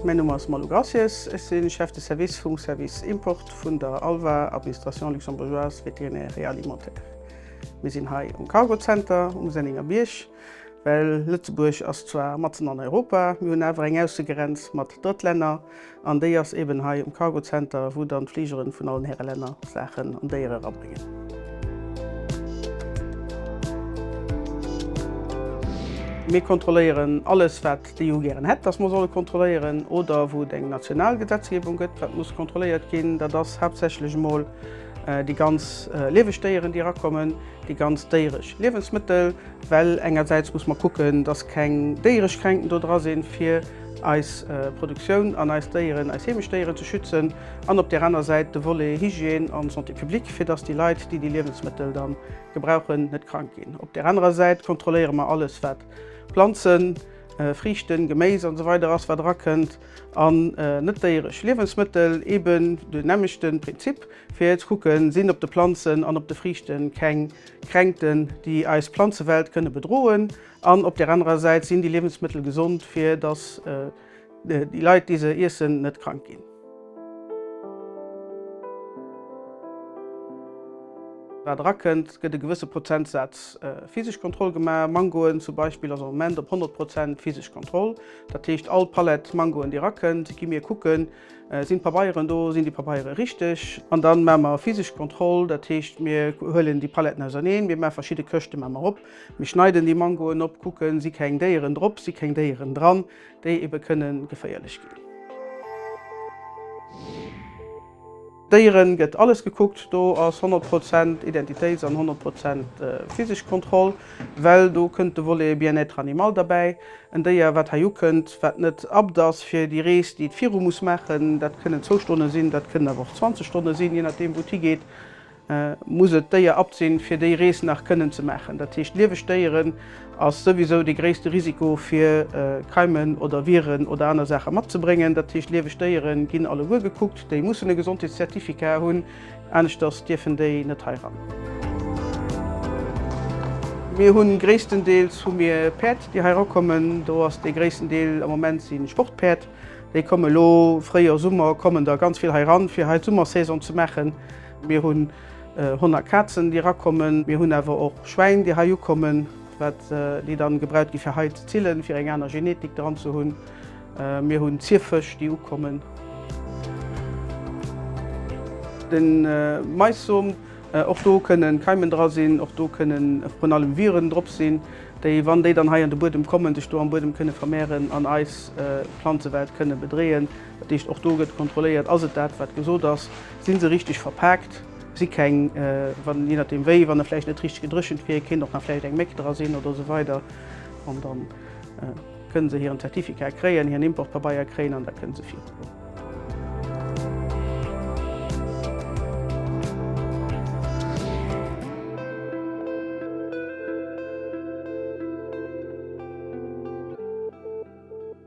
Mäin Numm ass Malou Graciés, ech si Chef de Service vum Service Import vun der ALVA, Administration luxembourgeoise vétérinaire et alimentaire. Mir sinn hei um Cargo Center um Sennénger Bierg. Well Lëtzebuerg ass zwar matzen an Europa, mir hunn awer eng Aussegrenz mat Drëttlänner, an déi ass eben hei um Cargo Center, wou dann d'Fligeren vun allen Häre Länner Saachen an Déiere rabréngen. Mir kontrolléieren alles, wat d'EU gären hätt, dass mer solle kontrolléieren, oder wou et eng national Gesetzgebung gëtt, wat muss kontrolléiert ginn. Dat ass haaptsächlech emol déi ganz lieweg Déieren, déi erakommen. Déi ganz déierech Liewensmëttel, well engersäits muss mer kucken, dass keng déierech Kränkten do dra sinn, fir eis Produktioun an eis Déieren, eis heemesch Déieren ze schützen, an op där aner Säit de Volet Hygiène a Santé publique, fir dass déi Leit, déi déi Liewensmëttel da gebrauchen, net krank ginn. Op där anerer Säit kontrolléiere mer alles, wat Planzen, Friichten, Geméis an esou weider ass, wat erakënnt, an net-déierech Liewensmëttel, eeben den nämmlechte Prinzip. Fir ze kucken, sinn op de Planzen an op de Friichte keng Kränkten, déi eis Planzewelt kënne bedroen, an op där anerer Säit, sinn déi Liewensmëttel gesond, fir datt déi Leit, déi se iessen, net krank ginn. Wat erakënnt, gëtt e gewësse Prozentsaz physesch Kontroll gemaach. Mangoen zum Beispill ass am Moment op 100 Prozent physesch Kontroll. Dat heescht, all Palett Mangoen, déi erakënnt, gi mir kucken, Sinn d'Pabeieren do? Sinn déi Pabeiere richteg? An dann maache mer physesch Kontroll, dat heescht, mir huelen déi Paletten auserneen, mir maache verschidde Këschte maache mer op, mir schneiden déi Mangoen op, kucken, si keng Déieren drop, si keng Déieren dran, déi ebe kënne geféierlech ginn. Déieren gëtt alles gekuckt, do ass 100 Prozent Identitéits an 100 Prozent physesch Kontroll, well do kënnt de Volet Bien-être animal derbäi. En Déier wat hei ukënnt, wat net abt ass fir déi Rees, déi et viru muss maachen, dat kënnen zwou Stonne sinn, dat kënnen awer och 20 Stonne sinn, jee nachdeem wou et higeet, muss et d'Déier abt sinn fir déi Rees nach kënnen ze maachen. Dat heescht lieweg Déieren. Ass souwisou dee gréisste Risiko fir Keimen oder Viren oder aner Saache matzebréngen. Dat heescht, lieweg Déiere ginn alleguer gekuckt, déi mussen e Gesondheetszertificat hunn, aneschters dierfen déi net hei ran. Mir hu gréisstendeels hu mir Päerd, déi hei rakommen. Do ass dee gréissten Deel am Moment si Sportpäerd. Déi kommen elo, Fréijoer, Summer, kommen der ganz vill hei ran, fir hei d'Summersaison ze maachen. Mir hu 100 Kazen, déi erakommen. Mir hunn awer och Schwäin, déi hei ukommen, wat, déi dann gebraut gi fir hei ze zillen, fir eng aner Genetik dran ze hunn. Mir hunn Zierfësch, déi ukommen. De Maissom, och do kënne Keimen dra sinn, och do kënnen vrun allem Viren drop sinn, déi, wann déi dann hei an de Buedem kommen, sech do am Buedem kënne vermehren an eis Planzewelt kënne bedreeën. Dat heescht, och do gëtt kontrolléiert, ass et dat, wat gesot ass, si se richteg verpaakt, si keng, wann, jee nachdeem wéi, wann e vläicht net richteg gedréchent wier, kéint och nach vläicht eng Méck dra sinn oder esou weider. An da kënne se hiren Zertifikat kréien, hiren Importpabeier kréien an da kënne se virgoen.